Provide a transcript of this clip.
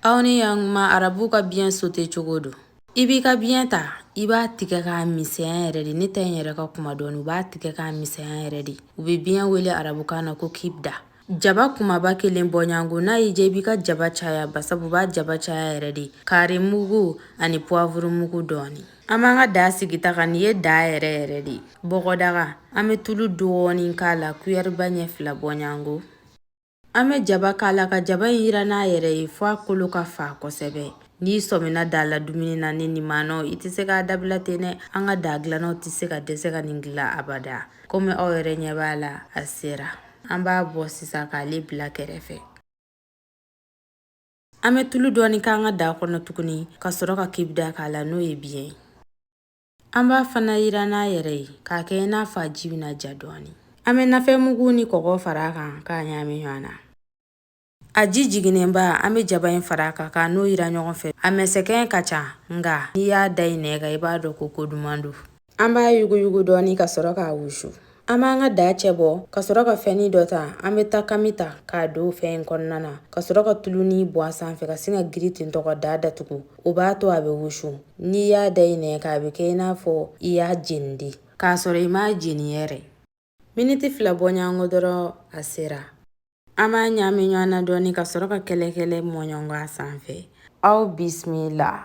Aw ni yan kuma arabu ka biɲɛ sote cogo don i b'i ka biɲɛ ta i b'a tigɛ k'a misɛnya yɛrɛ de ne ta in yɛrɛ ka kuma dɔɔni u b'a tigɛ k'a misɛnya yɛrɛ de u bɛ biɲɛ wele arabukan na ko kibida jaba kumaba kelen bɔɲɔgɔnko n'a y'i diya i b'i ka jaba caya basabu u b'a jaba caya yɛrɛ de kari mugu ani puwafuru mugu dɔɔni an b'an ka da sigi ta kan nin ye da yɛrɛ yɛrɛ de bɔgɔdaga an bɛ tulu dɔɔni k'a la kuyɛriba ɲɛ fila bɔɲɔgɔnko An bɛ jaba k'a la ka jaba in yiran n'a yɛrɛ ye fo a kolo ka fa kosɛbɛ n'i sɔmina da la dumuni na ni nin maanaw i tɛ se k'a dabila ten dɛ an ka da dilannaw tɛ se ka dɛsɛ ka nin dilan abada komi aw yɛrɛ ɲɛ b'a la a sera an b'a bɔ sisan k'ale bila kɛrɛfɛ an bɛ tulu dɔɔni k'an ka da kɔnɔ tuguni ka sɔrɔ ka kibida k'a la n'o ye biɲɛ ye An b'a fana yiran n'a yɛrɛ ye k'a kɛ i n'a fɔ a ji bɛna ja dɔɔnin an bɛ nafɛn mugu ni kɔgɔ fara a kan k'a ɲaami ɲɔgɔn na a ji jiginnenba an bɛ jaba in fara a kan k'a n'o yiran ɲɔgɔn fɛ a mɛsɛkɛ ka ca nka n'i y'a da i nɛn kan i b'a dɔn ko ko duman don an b'a yuguyugu dɔɔnin ka sɔrɔ k'a wusu An b'an ka da cɛ bɔ ka sɔrɔ ka fɛnin dɔ ta an bɛ takami ta k'a don fɛn in kɔnɔna na ka sɔrɔ ka tuluni bɔn a sanfɛ ka sin ka girin ten ka da datugu o b'a to a bɛ wusu n'i y'a da i nɛn kan a bɛ kɛ i n'a fɔ i y'a jeni de k'a sɔrɔ i m'a jeni yɛrɛ miniti fila bɔɲɔgɔnko dɔrɔn a sera an b'a ɲaami ɲɔgɔn na dɔɔni ka sɔrɔ ka kɛlɛkɛlɛ mɔɲɔnkɔ a sanfɛ aw bisimila